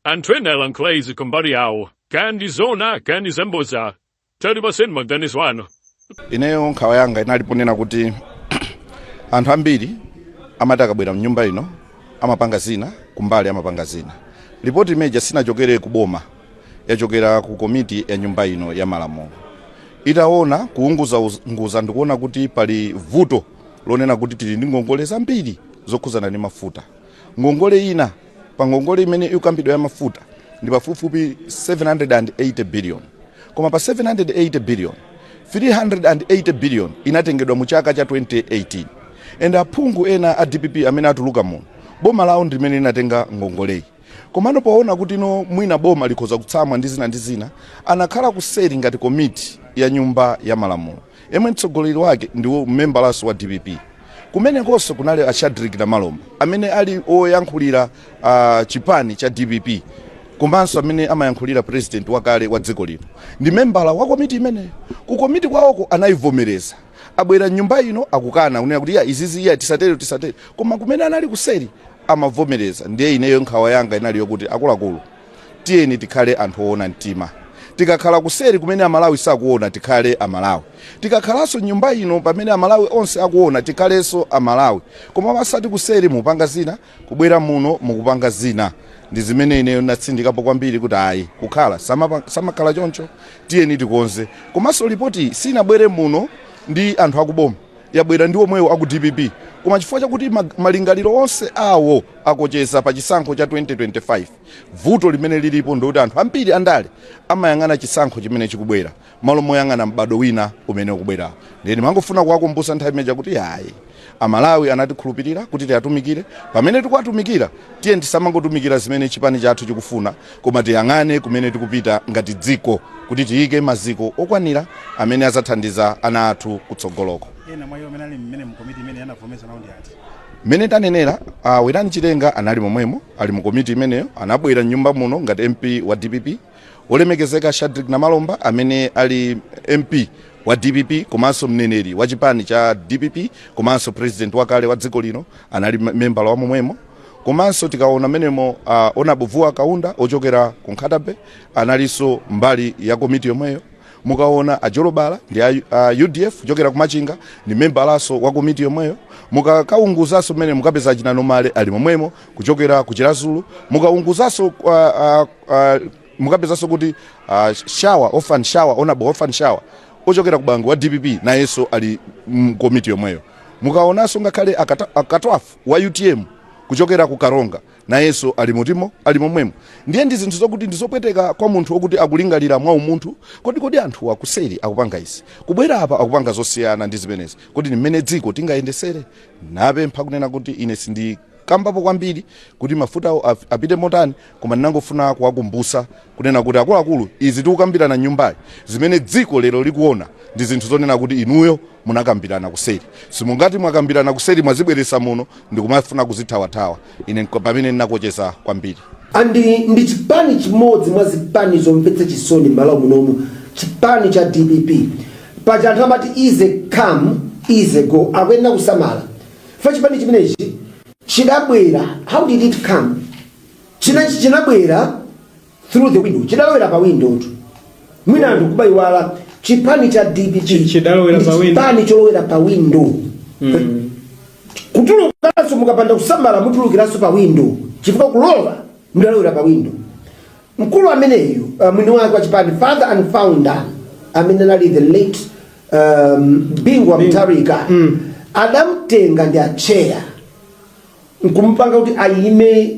anthu ena alankhula izi kumbali yawo kaya ndi zona kaya ndi zaboza tatipatseni maganizo anu ineyo nkhawa yanga inali ponena kuti anthu ambiri amati akabwera mnyumba ino amapanga zina kumbali amapanga zina ripoti imeja sinachokere ku boma yachokera ku komiti ya nyumba ino ya malamulo itaona kuunguzaunguza ndikuona kuti pali vuto lonena kuti tili ndi ngongole zambiri zokhuzana ndi mafuta ngongole ina pa ngongole imene ikukambidwa ya mafuta ndi pafupifupi 780 billion koma pa 780 billion 380 billion inatengedwa mu chaka cha 2018 and aphungu ena a dpp amene atuluka muno boma lawo ndi limene linatenga ngongoleyi komano poona kuti no mwina boma likhoza kutsamwa ndi zina ndi zina anakhala kuseri ngati komiti ya nyumba ya malamulo yomwe mtsogoleri wake ndi membalanso wa dpp. Kumenekonso kunali a Shadreck Namalomba amene ali oyankhulira chipani cha dpp komanso amene amayankhulira president wakale wa dziko lino ndi membala wa komiti imeneyo. Ku komiti kwawoko anayivomereza, abwera m'nyumba ino akukana kunena kuti iya izizi iya tisatere tisatere, koma kumene anali kuseri amavomereza. Ndiye ineyo nkhawa yanga inali yokuti akuluakulu, tiyeni tikhale anthu oona mtima tikakhala kuseri kumene amalawi sakuona tikhale amalawi tikakhalanso nyumba ino pamene amalawi onse akuona tikhalenso amalawi koma osati kuseri mukupanga zina kubwera muno mukupanga zina ndi zimene ineyo natsindikapo kwambiri kuti ayi kukhala samakhala choncho tiyeni tikonze komanso lipoti sinabwere muno ndi anthu akuboma yabwera ndi omwewo aku dpp koma chifukwa chakuti mag- malingaliro onse awo akucheza pa chisankho cha 2025 vuto limene lilipo ndikuti anthu ambiri andale amayang'ana chisankho chimene chikubwera malo moyang'ana m'bado wina umene ukubwerawo ndiye ndimangofuna kuwakumbutsa nthawi imeija kuti ayi amalawi anatikhulupirira kuti tiwatumikire pamene tikuwatumikira tiye tisamangotumikira zimene chipani chathu chikufuna Koma tiyang'ane kumene tikupita ngati dziko kuti tiike maziko okwanira amene adzathandiza ana athu kutsogoloko. Ena mwa iwo amene anali mmenemo mu komiti imeneyi anavomeza nawo ndi ati? Mmene tanenera, a Werani Chilenga anali momwemo, ali mu komiti imeneyo, anabwera m'nyumba muno ngati MP wa dpp. Wolemekezeka Shadreck Namalomba amene ali MP wa dpp komanso mneneri wa chipani cha dpp komanso president wakale wa dziko lino anali membala wa momwemo. komanso tikaona mmenemo uh, honorable vuwa kaunda ochokera ku nkhata bay analinso mbali ya komiti yomweyo mukaona a jolobala ndi a, a udf kuchokera kumachinga ndi membalanso wa komiti yomweyo mukakaunguzanso mmenemo mukapeza achina nomale ali momwemo kuchokera ku chiradzulu mukaunguzanso uh, uh, uh, mukapezanso kuti uh, shawa orphan shawa honorable orphan shawa ochokera ku bangwe wa dpp nayenso ali mkomiti yomweyo mukaonanso ngakhale akata- akatwafu wa utm kuchokera ku Karonga nayenso ali mutimo ali momwemo ndiye ndi zinthu zokuti ndizopweteka kwa munthu okuti akulingalira mwa umunthu kodi kodi anthu akuseri akupanga izi kubwera apa akupanga zosiyana ndi zimenezi kodi ndimene dziko tingayendesere napempha kunena kuti ine sindikambapo kwambiri kuti mafuta af- apite motani koma ndinangofuna kuwakumbutsa kunena kuti akuluakulu izi tikukambirana m'nyumbayi zimene dziko lero likuona ndi zinthu zonena kuti inuyo munakambirana kuseri simungati mwakambirana kuseri mwazibweretsa muno ndikumafuna kuzithawathawa ine nko- pamene ndinakocheza kwambiri and ndi chipani chimodzi mwa zipani zomvetsa chisoni m'malawi munomu chipani cha dpp paja anthu amati easy come easy go akuyenera kusamala chifukwa chipani chimenechi chidabwera how did it come China- chinabwera through the window chidalowera pa window tu mwina anthu akuiwala chipani cha dpp Chi- chidalowera ndi pa window. chipani cholowera pa window kutulukanso mukapanda kusamala mutulukiranso pa window chifukwa kulowa mudalowera pa window mkulu ameneyu uh, mwini wake wa chipani father and founder amene anali the late um, Bingu wa Mutharika adamtenga ndi atcheya nkumupanga kuti ayime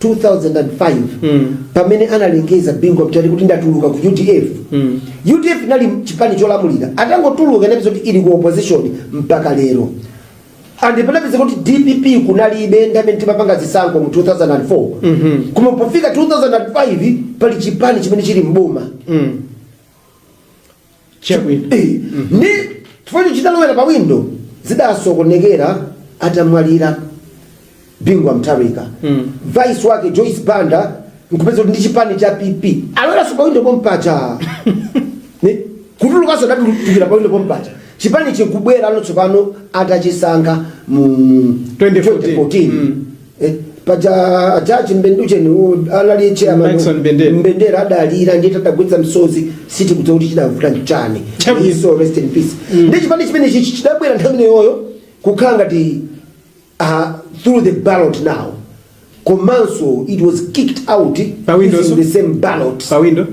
2005 pamene analengeza Bingu wa Mutharika kuti ndatuluka ku udf udf inali chipani cholamulira atangotuluka inapezeka kuti ili ku opposition mpaka lero and panapezeka kuti dpp kunalibe nthawi imene timapanga zisankho mu 2004 koma pofika 2005 pali chipani chimene chili mboma Chabwino. Eh, ndi chifukwa chidalowera pa window zidasokonekera atamwalira Bingu wa Mutharika Mm. vice wake joyce banda nkupezeka kuti ndi chipani cha pp aloweranso pa window pompacha Ni- kutulukanso adatulukira pa window pompacha chipani chikubwera ano tsopano atachisankha mu 2014. 2014 Mm. Eh, paja a judge mbenducheni u- anali chairman Maxon Mbendera. mbendera adalira ndiye tadagwetsa msozi siti kudza kuti chidavuta nchani Chabu. his soul rest in peace ndi chipani chimenechichi chidabwera nthawi imeneyoyo kukhala ngati uh, through the ballot now komanso it was kicked out Pa window, using so? the same ballot pa window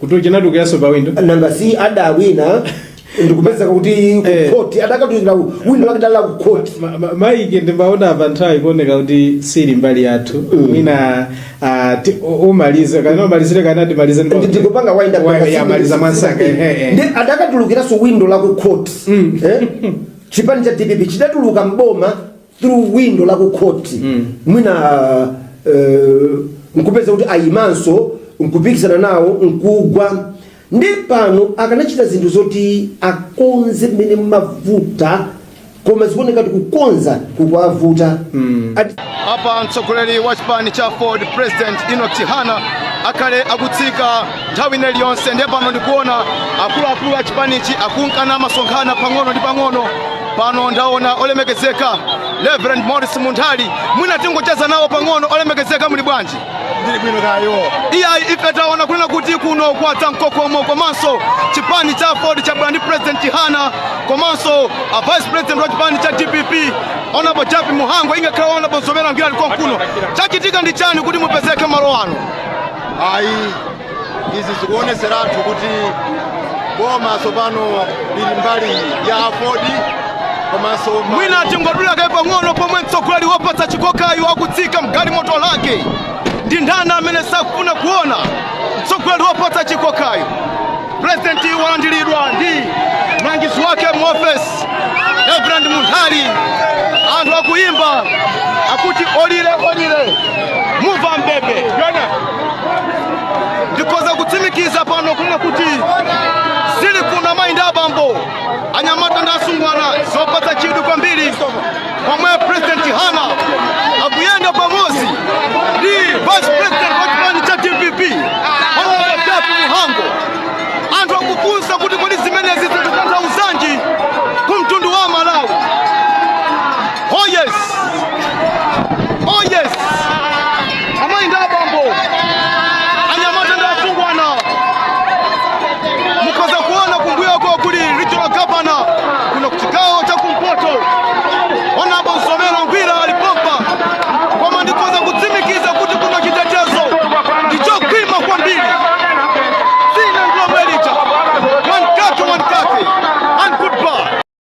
kuti chinatulukiranso pa window nanga si adawina ndikupezeka kuti Eh. kukhoti adakatulukira window yake ya kukhoti Ma- ma- Mike ndikuona apa nthawi ikuoneka kuti sili mbali yathu mwina ah, ti- u- umalize kana umalizire kapena timalize ndi- ndikupanga wind up Wa- ya, maliza mwansanga, eh, eh. ndi adakatulukiranso window la kukhoti Eh? chipani cha dpp chidatuluka mboma through window la ku court mwina eh, nkupeza kuti ayimanso nkupikisana nawo nkugwa nde pano akanachita zinthu zoti akonze mmene mmavuta koma zikuoneka kuti kukonza kukuwavuta apa mtsogoleri wa chipani cha aford president enock chihana akhale akutsika nthawi ina iliyonse ndiye pano ndikuona akuluakulu a chipanichi akunka nasonkhana pang'ono ndi pang'ono pano ndaona olemekezeka reverend maurice munthali mwina tingocheza nawo pang'ono olemekezeka muli bwanji ndili bwino kaya iyayi ife taona kunena kuti kuno kwadza mkokomo komanso chipani cha aford chabwera ndi president chihana komanso a vice president wa chipani cha dpp honourable jappie mhango ingakhale honourable mzomera ngwira ali konkuno chachitika ndi chani kuti mupezeke malo ano ayi izi zikuoneseratu kuti boma tsopano lili mbali ya aford komanso mwina tingodula kaye pang'ono pomwe mtsogoleri wopatsa chikokayu akutsika mgalimoto yake ndi ndani amene sakufuna kuona mtsogoleri wopatsa chikokayu Pulezidenti walandiridwa ndi mlangizi wake mu ofesi Reverend Munthali. Anthu akuyimba akuti olira alire mumva mbebe ndikhoza kutsimikiza pano kunena kuti zili kuno amayi ndi abambo anyamata ndi asungwana zopatsa chidwi kwambiri pomwe president chihana akuyenda pamodzi ndi vice president wa chipani cha dpp honorable jappie mhango anthu akufunsa kuti kodi zimenezi zikutanthauzanji ku mtundu wa amalawi oh yes oh yes amayi ndi abambo anyamata ndi asungwana mukhoza kuona kumbuyoko kuli regional governor kuno kuchigawo cha kumpoto honourable mzomera ngwira ali pompa koma ndikhoza kutsimikiza kuti kuno chitetezo ndichokhwima kwambiri dzina ndilomwelija one kaki one kaki and goodbye